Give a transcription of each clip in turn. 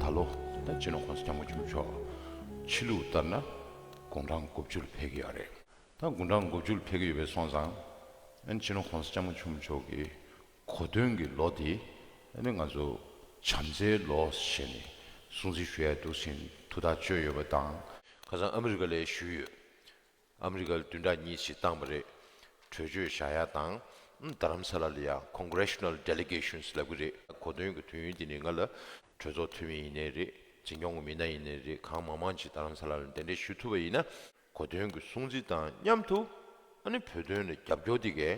ད་ལོ་ད་ཅི་ནོ་ཁོང་ཚོ་སྐྱབས་མགོ་འཁྱུར་ཆོག་ཕྱི་ལུགས་ལྟར་ན་དགུང་གྲངས་དགུ་བཅུ་ལ་ཕེབས་ཀྱི་ཡོད་རེད་ད་དགུང་གྲངས་དགུ་བཅུ་ལ་ཕེབས་ཀྱི་ཡོད་པས་སོང་ཙང་ཨ་ནི་ཅི་ནོ་ཁོང་ཚོ་སྐྱབས་མགོ་འཁྱུར་མི་ཆོག་གི་གོ་སྟོན་གྱི་ལོ་དེ་ཨ་ནི་ང་ཚོ་བྱམས་བརྩེའི་ལོ་ཞེས་ནས་སྲུང་བརྩི་ཞུ་ཡས་འདུག་ཟིན་ཐུ་ཐག་གཅོད་ཡོད་པ་དང། ཁ་སང་ཨ་མི་རི་ཀ་ལས་ཞུས་ཡོད། ཨ་མི་རི་ཀར་བདུན་ཕྲག་གཉིས་ཚིག་བཏང་བ་རེད། གྲོས་ཆོད་བཞག་ཡག་དང། རྡ་རམ་ས་ལ་ལ་ཡང Congressional Delegations ལབ་གི་རེད། གོ་དོན་གྱི་དུས་ཡུན་དེ་ནི་ང་ལ་གྲོས་ཚོགས་འཐུས་མི་ཡིན་ནའི་རེད། འཛིན་སྐྱོང་གི་མི་སྣ་ཡིན་ནའི་རེད་གང་མང་མང་ཅིག་རྡ་རམ་ས་ལ་ལ་འདི་འདྲས་ཞུ་ཐུབ་པ་ཡིན་ན། གོ་དོན་གྱི་སྲུང་བརྩི་དང་མཉམ་དུ། ཨ་ནི་བོད་དོན་ལ་རྒྱབ་སྐྱོར་དེ་གས།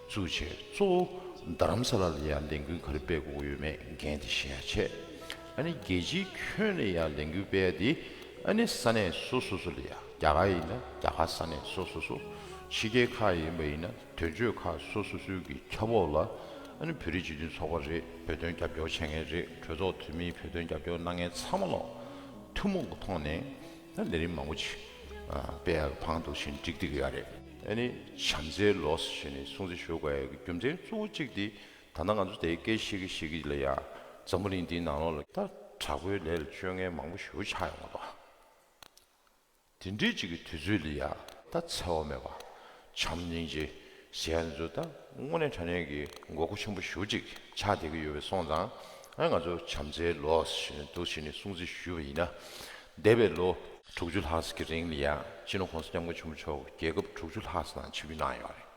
གཙོ་བྱས་གཙོ་བོ་རྡ་རམ་ས་ལ་ལ་ཡང་ལས་འགུལ་ག་རེ་སྤེལ་དགོས་ཡོད་མེད་འགན་དེ་གཞལ་ཡ་བྱས། ཨ་ནི་རྒྱལ་སྤྱིའི་ཁྱོན་ནས་ཡང་ལས་འགུལ་སྤེལ་ཡ་དེ་ཨ་ནི་ས་གནས་སོ་སོ་སོ་ལ་ཡང་རྒྱ་གར་ཡིན་ན་རྒྱ་གར་ས་གནས་སོ་སོ་སོ་ཕྱི་རྒྱལ་ཁག་ཡིན་པ་ཡིན་ན་དོན་གཅོད་ཁག་སོ་སོ་སོའི་གི་ཁྱབ་འོག་ལ་ཨ་ནི་བོད་རིགས་སྤྱི་མཐུན་ཚོགས་པ་རེད་བོད་དོན་རྒྱབ་སྐྱོར་བྱེད་མཁན་རེད་གྲོས་ཚོགས་འཐུས་མིའི་བོད་དོན་རྒྱབ་སྐྱོར་གནང་མཁན་ཚང་མ་ལ་ཐུན་མོང་གི་ཐོག་ནས་ད་ལས་རིམ་མང་པོ་ཆེ། པའི་བང་དུ་བཞིན་བསྒྲིགས་བསྡིགས་ཡ་རེད། ཨ་ནི་བྱམས་བརྩེའི་ལོས་ཞེས་ནས་སྲུང་བརྩི་ཞུ་དགོས་ཀྱི་རྒྱུ་མཚན་གཙོ་བོ་གཅིག་དེ་ད་ནང་ང་ཚོ་དེའི་སྐད་ཤེས་ཀྱི་ཤེས་ཀྱི་ལ་ཡ། འཛམ་བུ་གླིང་འདིའི་ནང་ལོ་ལ། ད་དྲག་པོའི་ལས་ལ་སྤྱོད་ངན་མང་པོ་ཞུ་ཆགས་ཡོང་བ་དང། དེ་འདྲའི་ཅིག་གི་དུས་ཚོད་ལ་ཡ། ད་འཚེ་བ་མེད་པ། བྱམས་སྙིང་རྗེ། ཞེས་འདི་ཚོ་ད་དངོས་གནས་དྲ་གནས་ཀྱི་མགོ་སྐོར་ཆེན་པོ་བཞུགས་ཅིག་ཆགས་བསྡད་ཀྱི་ཡོད་པའི་སོང་ཙང་ང་ཚོ་བྱམས་བརྩེའི་ལོ་ཞེས་ནས་འདུག་ཞེས་ནས་སྲུང་བརྩི་ཞུས་པ་ཡིན་ན། འདས་པའི་ལོ། དྲུག་ཅུ་ལྷག་གི་རིང་ལ་ཡང་སྤྱི་ནོར་ཁོང་ས་སྐྱབས་མགོན་ཆེན་པོ་མཆོག་རྒྱལ་ཁབ་དྲུག་ཅུ་ལྷག་ནང་ཆིབས་བསྒྱུར་གནང་ཡོད་རེད།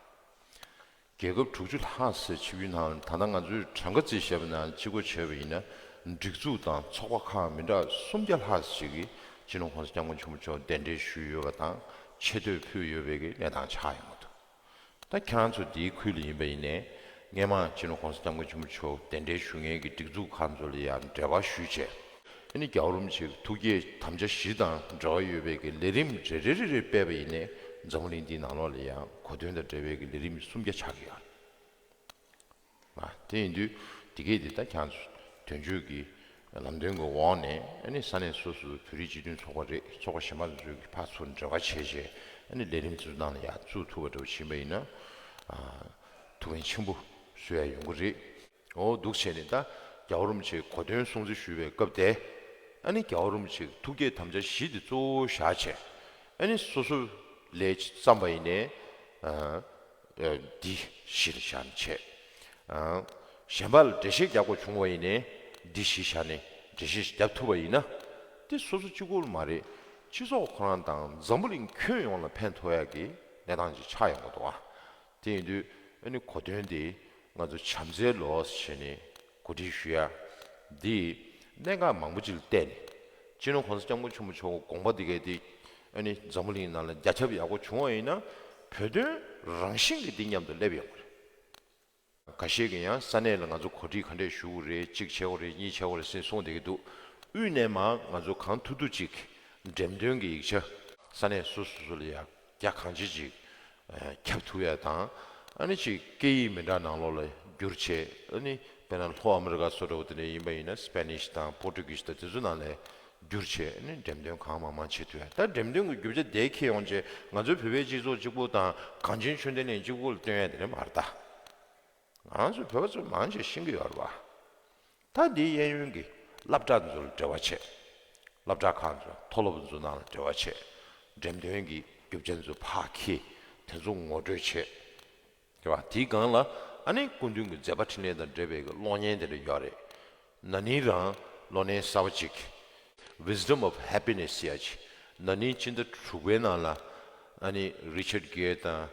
རྒྱལ་ཁབ་དྲུག་ཅུ་ལྷག་ཆིབས་བསྒྱུར་གནང་ད་ལྟ་ང་ཚོའི་གྲངས་ཀ་རྩིས་བཤེར་བ་ནང་སྤྱི་སྒོ་ཕྱེས་པ་ཡིན་ན་སྒྲིག་འཛུགས་དང་ཚོགས་པ་ཁག་མི་འདྲ་སུམ་བརྒྱ་ལྷག་ཅིག་གིས་སྤྱི་ནོར་ཁོང་ས་སྐྱབས་མགོན་ཆེན་པོ་མཆོག་གདན་འདྲེན་ཞུས་ཡོད་པ་དང་ཆེ་བསྟོད་ཕུལ་ཡོད་པའི་གནས་དང་ཆ་ཡང་མ་ཐུབ། ད་ཁྱེད་རང་ཚོ་འདིའི་ཁུལ་ལས་ཡིན་པ་ཡིན་ནས་སྔས་མ་ཕྱི་ནུ་གོང་ས་སྐྱབས་མགོན་ཆེན་པོ་མཆོག་གདན་འདྲེན་ཞུ་མཁན་གྱི་སྒྲིག་འཛུགས་ཁག་ཚོ་ལ་ཡང་འབྲེལ་བ་ཞུས་བྱས། འདི་ནི་རྒྱ་རོམ་ཆེ་གི་ཐུགས་བསྐྱེད་དམ་བཅའ་བཞི་དང་འབྲེལ་བ་ཡོད་པའི་གི་ལས་རིམ་རེ་རེ་རེ་རེ་སྤེལ་བ་ཡིན་ནས་འཛམ་བུ་གླིང་འདིའི་ནང་ལོགས་ལ་ཡང་གོ་དོན་དང་འབྲེལ་བའི་གི་ལས་རིམ་སུམ་བརྒྱ་ཆགས་ཀྱི་ཡོད། དེ་ཡིན་དུས་དེ་སྐད་དེ་ད་གྱང་དོན་གཅོད་ཀྱི་ལམ་སྟོན་གྱི་འོག་ནས་ཨ་ནི་ས་གནས་སོ་སོའི་བོད་རིགས་སྤྱི་མཐུན་ཚོགས་པ་རེད་ཚོགས་པ་གཞན་པ་ཚོས་ཀྱི་ཕར་ཚུར་འབྲེལ་བ་བྱས་བྱས་ཨ་ནི་ལས་རིམ་ཚོ་ནང་ལ་ཡག་བཙུགས་ཐུབ་པ་འདྲ་བོ་བྱིན་པ་ཡིན་ན་ཐུགས་ཕན་ཆེན་པོ་བཟོས་ཡ་ཡོང་གི་རེད་འོ་སྡུག་བྱས་ནས་ད་རྒྱ་བོ་རུམ་ཆེ་གོ་དོན་སྲུང་བརྩི་ཞུས་པའི་སྐབས་དེ་ཨ་ནི་རྒྱ་བོ་རུམ་ཆེ་ཐུགས་བསྐྱེད་དམ་བཅའ་བཞི་དེ་གཙོ་བོ་བཞག་བྱས་ཨ་ནི་སོ་སོ་ལས་བརྩམས་པ་ཡིན་ནས། འདི་གཞིར་བཞག་ནས་བྱས། གཞན་པ་ལ་འགྲེལ་བཤད་རྒྱག་དགོས་བྱུང་བ་ཡིན་ནའི། འདི་གཞིར་བཞག་ནས་འགྲེལ་བཤད་རྒྱག་ཐུབ་པ་ཡིན་ན། དེ་སོ་སོ་གཅིག་པུར་མ་རེད། སྤྱི་ཚོགས་ཁོ་རང་དང་འཛམ་བུ་གླིང་ཁྱོན་ཡོངས་ལ་ཕན་ཐོགས་ཡག་གི་གནས་སྟངས་ཅིག་ཆགས་ཡོང་གི་འདུག་ཨ། དེ་ཡིན་དུས་ཨ་ནི་གོ་དོན་དེ་ང་ཚོ་བྱམས་བརྩེའི་ལོ་ཞེས་ནས་གོ་སྒྲིག་ཞུ་ཡ། འདིས་གནད་འགག་མང་པོ་ཅིག་ལ་བལྟས་ནས། སྤྱི་ནོར་གོང་ས་སྐྱབས་མགོན་ཆེན་པོ་མཆོག་གི་དགོངས་པ་འདི་གལ་ཏེ། ཨ་ནི་འཛམ་བུ་གླིང་ནང་ལ་རྒྱ་ཁྱབ་ཡག་པོ་བྱུང་བ་ཡིན་ན། བོད་དོན་རང་བཞིན་གྱིས་འདི་མཉམ་དུ་སླེབས་ཡོང་བ་རེད། ག་ཤེད་ཀྱི་ཡང་ས་གནས་ལ་ང་ཚོ་གོ་སྒྲིག་ག་འདྲས་ཞུ་དགོས་རེད་གཅིག་བྱས་བ་རེད་གཉིས་བྱས་བ་རེད་སེ་གསུངས་བསྡད་ཀྱི་འདུག་དབུས་ནས་མ་ང་ཚོ་གང་ཐུབ་ཐུབ་ཅིག་གིས་འགྲེམས་སྟོན་གྱི་ཡིག་ཆ། ས་གནས་སོ་སོ་སོ་ལ་ཡག་རྒྱ་གང་བྱེད་ཅིག། ཁྱབ་ཐུ་ཡ་དང། ཨ་ནི་ཅིག་སྐད་ཡིག་མི་འདྲ་ནང་ལོགས་ལ་སྒྱུར་བྱེད་ཨ་ནི་དཔེར་ན་ལྷོ་ཨ་མི་རི་ཀ་སོགས་འདྲ་བོ་དེ་འདྲ་ཡིན་པ་ཡིན་ན Spanish དང Portuguese དང་དེ་ཚོ་ནང་ལས་སྒྱུར་བྱེད་ཨ་ནི་འགྲེམས་སྟོན་གང་མང་མང་བྱེད་ཐུ་ཡ་ད་འགྲེམས་སྟོན་གི་རྒྱུ་ཆ་དེ་ཁྱེད་ཡོང་རྗེས་ང་ཚོའི་བོད་པའི་སྤྱི་ཚོགས་གཅིག་པོ་དང་གངས་ཅན་ཆོས་ལྡན་ལས་གཅིག་པོ་ལ་སྟོན་ཡ་དེ་འདྲ་མ་རེད་ད། ང་རང་ཚོའི་བོད་པ་ཚོ་མང་ཆེ་ཤིང་གི་ཡོད་རེད་བ། ད་འདིའི་གཡས་གཡོན་གྱི་སླབ་བསྒྲགས་འཛུལ་འབྲེལ་བ་ཆེ། སླབ་བསྒྲགས་ཁང་ཚོས་མཐོ་སློབ་འཛུལ་ནང་ལ་འབྲེལ་བ་ཆེ། འགྲེམས་སྟོན་གྱི་རྒྱུ་བྱ་འཛུལ་ཕ་གིས་དེ་ཚོ་ངོ་སྤྲོད་ཆེ། དེ་བ་དེའི་སྒང་ལ་ཨ་ནེ་སྐུ་མདུན་གྱི་མཛད་པ་འཕྲིན་ལས་དང་འབྲེལ་བའི་གློག་བརྙན་དེ་འདྲ་ཡོད་རེད། ན་ནིང་རང་ལོ་ནའི་གསར་བ་གཅིག Wisdom of Happiness ཡ་ཆེ་ན་ནིང་སྤྱི་ཟླ་དྲུག་པའི་ནང་ལ་ཨ་ནེ Richard Gere དང་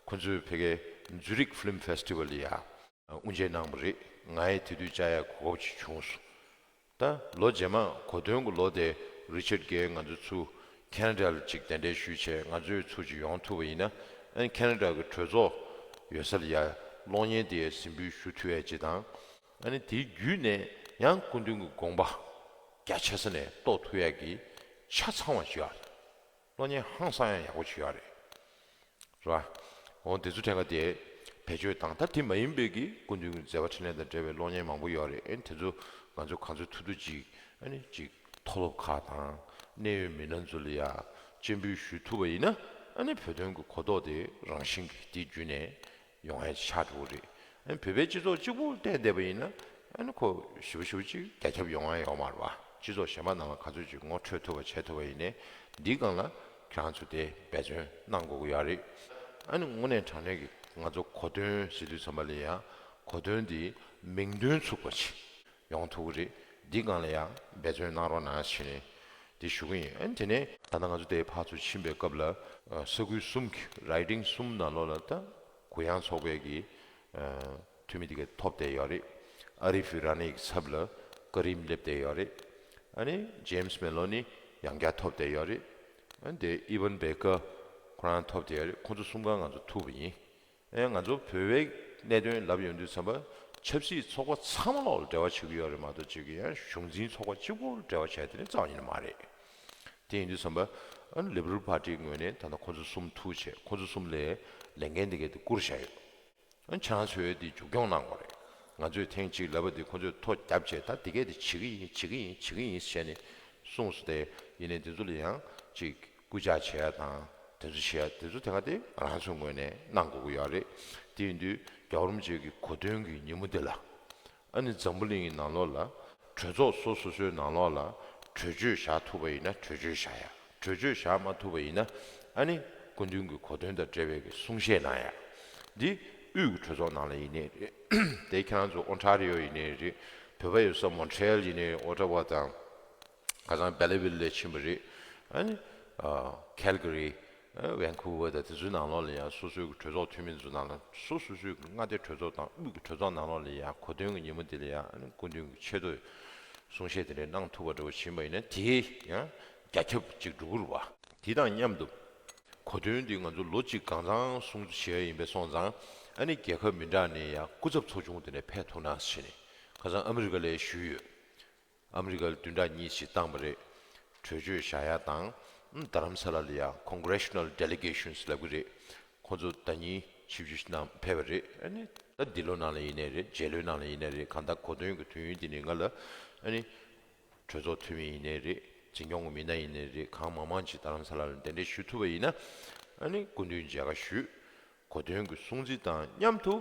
ཁོ་ཚོས་ཕེ་གྷའི Zurich Film Festival ཡ། དབུ་འབྱེད་གནང་བ་རེད། ང་ཡི་དེ་དུས་བཅའ་ཡག་གི་གོ་སྐབས་ཅིག་བྱུང་སོང། ད་ལོ་རྗེས་མ་གོ་སྟོན་གྱི་ལོ་དེ Richard Gere ང་ཚོའི་ཚུ Canada ལ་ཅིག་གདན་འདྲེན་ཞུས་ཆེད་ང་ཚོའི་ཚུ་ཅིག་ཡོང་ཐུབ་པ་ཡིན་ན་ཨན Canada གི་གྲོས་ཚོགས་ཡོད་ས་ལ་ཡར་གློག་བརྙན་དེ་ཡར་ཟིན་འབུལ་ཞུ་ཐུབ་ཡ་ཇི་དང་ཨན་དེའི་བརྒྱུད་ནས་ཡང་སྐུ་མདུན་གྱི་དགོངས་པ་རྒྱ་ཆེ་ས་ནས་རྟོགས་ཐུབ་ཡ་གི་ཆ་ཚང་བ་ཞིག་ཨ་རེད། གློག་བརྙན་ཧང་སང་ཡང་ཡག་པོ་བྱོས་ཡག་རེད་ར། འོ་འདི་ཚོ་ཕྲན་ག་དེས་བེད་སྤྱོད་དང་ད་དེ་མ་ཡིན་པའི་གི་སྐུ་མདུན་གི་མཛད་པ་ཕྲིན་ལས་དང་འབྲེལ་བའི་གློག་བརྙན་མང་པོ་ཡོད་རེད་དེ་ཚོ་ང་ཚོ་ག་ཚོད་ཐུག་ཐུག་ཅིག་ཨ་ནི་ཅིག་མཐོ་སློབ་ཁག་དང་གནད་ཡོད་མི་སྣ་ཚོ་ལ་ཡ་གཅེས་འབུལ་ཞུས་ཐུབ་པ་ཡིན་ན་ཨ་ནི་བོད་དོན་གི་གོ་རྟོགས་དེ་རང་བཞིན་གི་དེ་བརྒྱུད་ནས་ཡོང་ཧེ་ཆགས་འགྲོ་གི་རེད། ཨ་བོད་པའི་སྤྱི་ཚོགས་གཅིག་པུ་བསྟན་བསྡད་པ་ཡིན་ན། ཁོ་བཞི་བ་ཞུ་བ་ཅིག་རྒྱ་ཁྱབ་ཡོང་ཨ་ཡོང་མ་རེད་བ། སྤྱི་ཚོགས་གཞན་པ་ནང་ལ་ག་ཚོད་ཅིག་ངོ་འཕྲོད་ཐུབ་པ་བྱེད་ཐུབ་པ་ཡིན་ནའི། འདིའི་སྒང་ལ་ཁྱོད་རང་ཚོ་དེ་འབད་བརྩོན་གནང་དགོས་ཀྱི་ཡག་རེད། ཨ་ནི་དངོས་གནས་དྲང་གནས་ཀྱི་ང་ཚོ་གོ་དོན་ཟེར་དུས་ཚང་མ་ལས་ཡང་གོ་དོན་དེའི་མིང་དོན་ཚུགས་པ་བྱེད། ཡོང་ཐུག་གི་རེད་འདི་སྒང་ལ་ཡང་འབད་བརྩོན་གནང་རོགས་གནང་བྱས་ནས་དེ་ཞུ་གི་ཡིན་དེ་ནས། ད་ནང་ང་ཚོ་དེའི་ཕར་ཚུར་ཕྱིན་པའི་སྐབས་ལ་ས་ཁུལ་གསུམ་གྱི Riding གསུམ་ནང་ལོགས་ལ་ད་གུ་ཡངས་ཚོགས་པའི་གི་འཐུས་མི་དེ་ག་ཐོབ་བསྡད་ཡོད་རེད་ཨ་རི་ཕི་ར་ནེ་གི་ཚབ་ལ་སྐ་རིམ་སླེབས་བསྡད་ཡོད་རེད་ཨ་ནི James Maloney ཡང་བསྐྱར་ཐོབ་བསྡད་ཡོད་རེད་ཨ་ནི་དེ Evan Baker ཁོ་རང་ཐོབ་བསྡད་ཡོད་རེད་ཁོ་ཚོ་གསུམ་ག་ང་ཚོ་ཐུག་པ་ཡིན་ཨེ་ང་ཚོ་བོད་བའི་གནད་དོན་ལབ་ཡོང་དུས་ཚང་པ་ཆབ་སྲིད་ཚོགས་པ་ཚང་མ་ལོག་ལ་འབྲེལ་བ་བྱེད་ཀྱི་ཡོད་རེད་མ་གཏོགས་གཅིག་གི་ཡང་གཞུང་འཛིན་ཚོགས་པ་གཅིག་པོ་འབྲེལ་བ་བྱས་དེ་ནི་རྩ་བ་ཉིད་ནས་མ་རེད། དེ་ཡིན་དུས་ཚང་པ Liberal Party ངོས་ནས་ད་ལྟ་ཁོ་ཚོ་གསུམ་ཐུགས་ཆེ་ཁོ་ཚོ་གསུམ་ལས་ལས་འགན་འདི་གས་དེ་བསྐུར་བཞག་ཡོད། ཁྱེད་རང་ཚོས་དེ་མཇུག་སྐྱོང་གནང་དགོས་རེད། ང་ཚོས་ཐེངས་གཅིག་ལབ་པ་དེ་ཁོ་ཚོས་མཐོ་རྒྱབ་བྱས་ད་དེ་གས་དེ་བྱེད་ཀྱི་ཡིན་བྱེད་ཀྱི་ཡིན་བྱེད་ཀྱི་ཡིན་ཟེར་ནས་གསུངས་སོ་དེ་ཡིན་ནས་དེ་ཚོ་ལ་ཡང་གཅིག་སྐུལ་ལྕག་བྱས་དང་དེ་ཚོ་བྱས་དེ་ཚོ་དེ་ག་དེ་རང་ཚོའི་ངོས་ནས་གནང་དགོས་ཀྱི་ཡོད་རེད། དེ་ཡིན་དུས་རྒྱ་རོམ་བཅས་ཀྱི་གོ་སྟོན་གྱི་ཉིན་མོ་དེ་ལ། ཨ་ནི་འཛམ་བུ་གླིང་གི་ནང་ལོགས་ལ་གྲོས་ཚོགས་སོ་སོ་སོའི་ནང་ལོགས་ལ་གྲོས་ཆོད་བཞག་ཐུབ་པ་ཡིན་ན་གྲོས་ཆོད་བཞག་ཡ། གྲོས་ཆོད་བཞག་མ་ཐུབ་པ་ཡིན་ན་ཨ་ནི་སྐུ་མདུན་གྱི་གོ་སྟོན་དང་འབྲེལ་བའི་གི་གསུང་བཤད་གནང་ཡ། འདི་དབུས་གྱི་གྲོས་ཚོགས་ནང་ལ་ཡིན་ནི་རེད་དེ་ཁྱེད་རང་ཚོ་ཨོ་ནྟྲ་རི་ཡོ་ཡིན་ནི་རེད་བོད་པ་ཡོད་ས་མོན་ཁྲེལ་ཡིན་ནི་ཨོ་ནྟྲ་བ་དང། ཁ་སང་སྦེལ་བིལ་ལས་ཕྱིན་པ་རེད། Calgary། Vancouver དང་དེ་ཚོའི་ནང་ལོགས་ལ་ཡང་སོ་སོའི་གྲོས་ཚོགས་འཐུས་མི་ཚོ་ནང་ལ་སོ་སོ་སོའི་མངའ་སྡེ་གྲོས་ཚོགས་དང་དབུས་ཀྱི་གྲོས་ཚོགས་ནང་ལོགས་ལ་ཡང་གོ་སྟོན་གྱི་ཉིན་མོ་དེ་ལ་ཡང་སྐུ་མདུན་གྱི་ཆེད་དུ་གསུང་བཤད་དེ་འདྲ་གནང་ཐུབ་པ་འདྲ་བོ་བྱིན་པ་ཡིན་ན་དེ་ཡང་རྒྱ་ཁྱབ་ཅིག་འགྲོ་གི་རེད་བ། དེ་དང་མཉམ་དུ། གོ་སྟོན་འདི་ང་ཚོ་ལོ་གཅིག་གང་ཚང་གསུང་བྱས་ཡ་ཡིན་པས་སོང་ཙང་ཨ་ནི་རྒྱལ་ཁབ་མི་འདྲ་ནས་ཡང་སྐུ་ཚབ་ཚོགས་ཆུང་དེ་འདྲ་ཕེབས་ཐུབ་ན་ཟེར་ནས་ཁ་སང་ཨ་མི་རི་ཀ་ལས་ཞུས་ཡོད། ཨ་མི་རི་ཀར་བདུན་ཕྲག་གཉིས་ཞིག་བཏང་བ་རེད། གྲོས་ཆོད་བཞག་ཡ་དང། རྡ་རམ་ས་ལ་ལ་ཡང Congressional Delegations ལབ་གི་རེད། ཁོང་ཚོ་ཟླ་གཉིས་ཆིག་བཞི་ཞིག་ནང་ཕེབས་པ་རེད། ད་འདི་ལོ་ནང་ལ་ཡིན་ནའི་རེད་རྗེས་ལོའི་ནང་ལ་ཡིན་ནའི་རེད་གང་ལྟར་གོ་སྟོན་གྱི་དུས་ཡུན་དེ་ནི་ང་ལ། གྲོས་ཚོགས་འཐུས་མི་ཡིན་ནའི་རེད་འཛིན་སྐྱོང་གི་མི་སྣ་ཡིན་ནའི་རེད་གང་མང་མང་ཞིག་རྡ་རམ་ས་ལ་ལ་འདི་འདྲས་ཞུ་ཐུབ་པ་ཡིན་ན། སྐུ་མདུན་མཇལ་ཁ་ཞུས། གོ་དོན་གྱི་སྲུང་བརྩི་དང་མཉམ་དུ་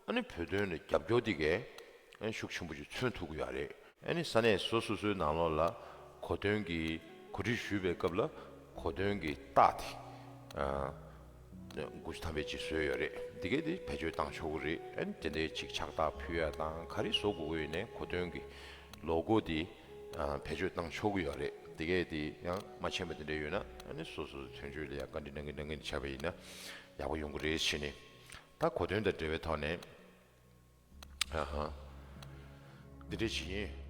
བོད་དོན་ལ་རྒྱབ་སྐྱོར་དེ་གའི་ཤུགས་ཆེན་པོ་ཞིག་མཚོན་ཐུབ་ཀྱི་ཡོད་རེད། ས་གནས་སོ་སོ་སོའི་ནང་ལོགས་ལ་གོ་དོན་གྱི་གོ་སྒྲིག་ཞུས་པའི་སྐབས་ལ་གོ་དོན་གྱི་རྟགས་དེ་དགུ་ཐམ་པའི་གཅིག་བཟོས་ཡོད་རེད་དེ་གས་དེ་བེད་སྤྱོད་བཏང་ཆོག་གི་རེད་དེ་འདྲའི་ཆིག་ཆག་དག་ཕུད་ཡ་དང་ག་རེ་བཟོ་དགོས་ཀྱི་ཡོད་ནས་གོ་དོན་གྱི་ལོ་གོ་དེ་བེད་སྤྱོད་བཏང་ཆོག་གི་ཡོད་རེད་དེ་གས་དེ་ཡང་མ་མཆན་པ་དེ་འདྲ་ཡོད་ན་སོ་སོ་སོའི་དོན་གཅོད་ལ་ཡང་བཀའ་འདྲི་གནང་གིན་གནང་གིན་བྱས་པ་ཡིན་ན། ཡག་པོ་ཡོང་གི་རེད་བྱས་ནས། ད་གོ་དོན་དང་འབྲེལ་བའི་ཐོག་ནས། ཧ་ཧ། འདི་འདྲས་བྱེད་ཀྱིན།